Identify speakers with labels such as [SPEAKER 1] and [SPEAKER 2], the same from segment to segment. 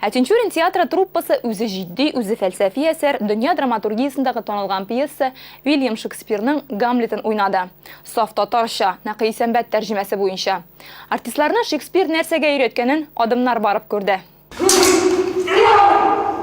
[SPEAKER 1] Ә Тинчурин театры труппасы үзе җитди, үзе фәлсәфи әсәр, дөнья драматургиясендәге танылган пьеса, Уильям Шекспирның Гамлетын уйнады. Саф татарча, Нәкый Исәнбәт тәрҗемәсе буенча. Артистларны Шекспир нәрсәгә өйрәткәнен Адымнар барып күрде.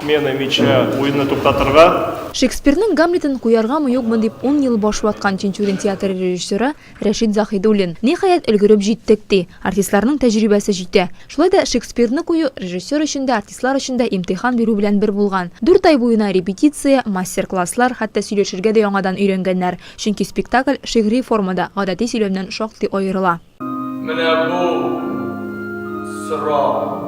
[SPEAKER 1] Смены
[SPEAKER 2] мяча уенны туктатырга. Шекспирның
[SPEAKER 1] Гамлетын куяргамы-юкмы дип ун ел баш ваткан Тинчурин театры режиссеры Рәшит Заһидуллин, Ниһаять, өлгереп җиттек, ди. Артистларның тәҗрибәсе җитә. Шулай да Шекспирны кую режиссер өчен дә, артистлар өчен дә имтихан бирү белән бер булган. Дүрт ай буена репетиция, мастер-класслар, хәтта сөйләшергә дә яңадан өйрәнгәннәр, чөнки спектакль шигъри формада, гадәти сөйләмнән шактый аерыла. Менә бу
[SPEAKER 3] сорау.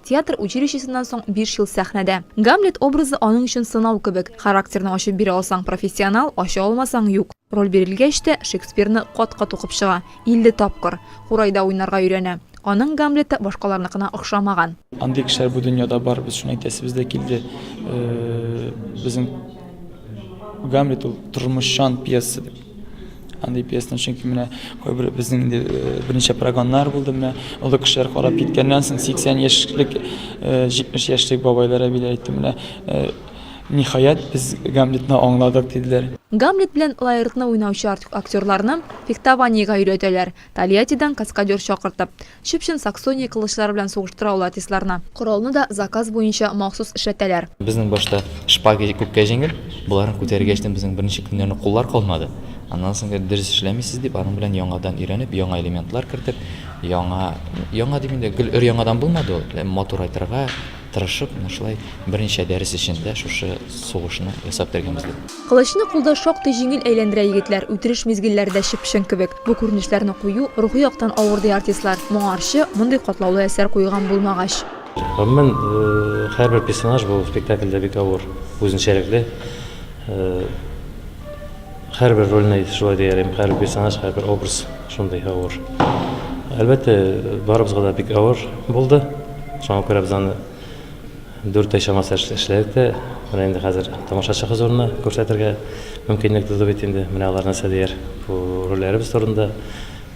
[SPEAKER 1] Театр училищесыннан соң биш ел сәхнәдә. Гамлет образы аның өчен сынау кебек. Характерны ачып бирә алсаң, профессионал, ача алмасаң, юк. Роль бирелгәч тә, Шекспирны кат-кат укып чыга, илле тапкыр. Курайда уйнарга өйрәнә. Аның Гамлеты башкаларныкына охшамаган. Андый кешеләр бу
[SPEAKER 4] дөньяда бар, без шуны әйтәсебез дә килде. Безнең Гамлет ул тормышчан пьеса дип. Андый пьесаны, чөнки менә кайбер безнең инде э, берничә прогоннар булды, менә олы кешеләр карап киткәннән соң 80 яшьлек, 70 э, яшьлек бабайлар әбиләр әйтте, менә э, ниһаять без Гамлетны аңладык диделәр. Гамлет белән
[SPEAKER 1] Лаэртны уйнаучы актерларны фехтованиегә өйрәтәләр, Тольяттидан каскадер чакыртып. Чып-чын Саксония кылычлары белән сугыштыра ул артистларны. Коралны да заказ буенча махсус эшләтәләр. Безнең башта
[SPEAKER 5] шпага күпкә җиңел, боларны күтәргәч тә безнең беренче көннәрне куллар калмады. Аннан соң инде дөрес эшләмисез дип, аның белән яңадан өйрәнеп, яңа элементлар кертеп, яңа, яңа дим инде, гел өр-яңадан булмады ул, ләм матур айтырга тырышып, менә шулай берничә дәрес эчендә шушы сугышны ясап бетергән бездә. Кылычны кулда
[SPEAKER 1] шактый җиңел әйләндерә егетләр, үтереш мизгелләре дә чып-чын кебек. Бу күренешләрне кую рухи яктан авыр, ди артистлар. Моңарчы мондый катлаулы әсәр куелган булмагач. Гомумән,
[SPEAKER 6] һәрбер персонаж бу спектакльдә бик авыр, үзенчәлекле. Һәрбер рольне шулай дияр идем, һәрбер персонаж, һәрбер образ шундый авыр. Әлбәттә, барыбызга да бик авыр булды. Шуңа күрә без аны Дүрт ай чамасы эшләдек тә, менә инде хәзер тамашачы хозурына күрсәтергә мөмкинлек туды бит инде. Менә алар нәрсә дияр бу рольләребез турында,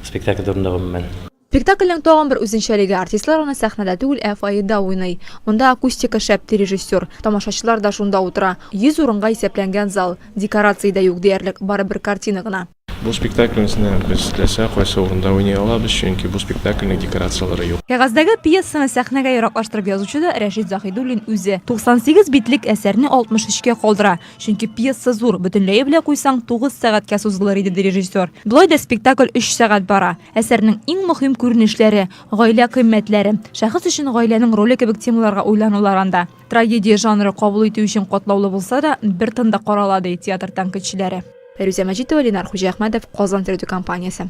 [SPEAKER 6] спектакль турында, гомумән. Спектакльнең тагын
[SPEAKER 1] бер үзенчәлеге, артистлар аны сәхнәдә түгел, ә фойеда уйный. Монда акустика шәп, ди режиссер. Тамашачылар да шунда утыра. Йөз урынга исәпләнгән зал. Декорация дә юк диярлек, барыбер картина гына. Бу спектакльмзне
[SPEAKER 2] без теләсә кайсы урында уйный алабыз, чөнки бу спектакльнең декорацияләре юк. Кәгазьдәге пьесаны
[SPEAKER 1] сәхнәгә яраклаштырып язучы да Рәшит Заһидуллин үзе. 98 битлек әсәрне 63 кә калдыра, чөнки пьеса зур, бөтенләе белә куйсаң, тугыз сәгатькә сузылыр иде, ди режиссер. Болай да спектакль өч сәгать бара. Әсәрнең иң мөһим күренешләре, гаилә кыйммәтләре, шәхес өчен гаиләнең роле кебек темаларга уйланулар анда. Трагедия жанры кабул итү өчен катлаулы булса да, бер тында карала, ди театр тәнкыйтьчеләре. Фәрүзә Мәҗитова, Ленар Хуҗиәхмәтов, Казан тередокомпаниясе.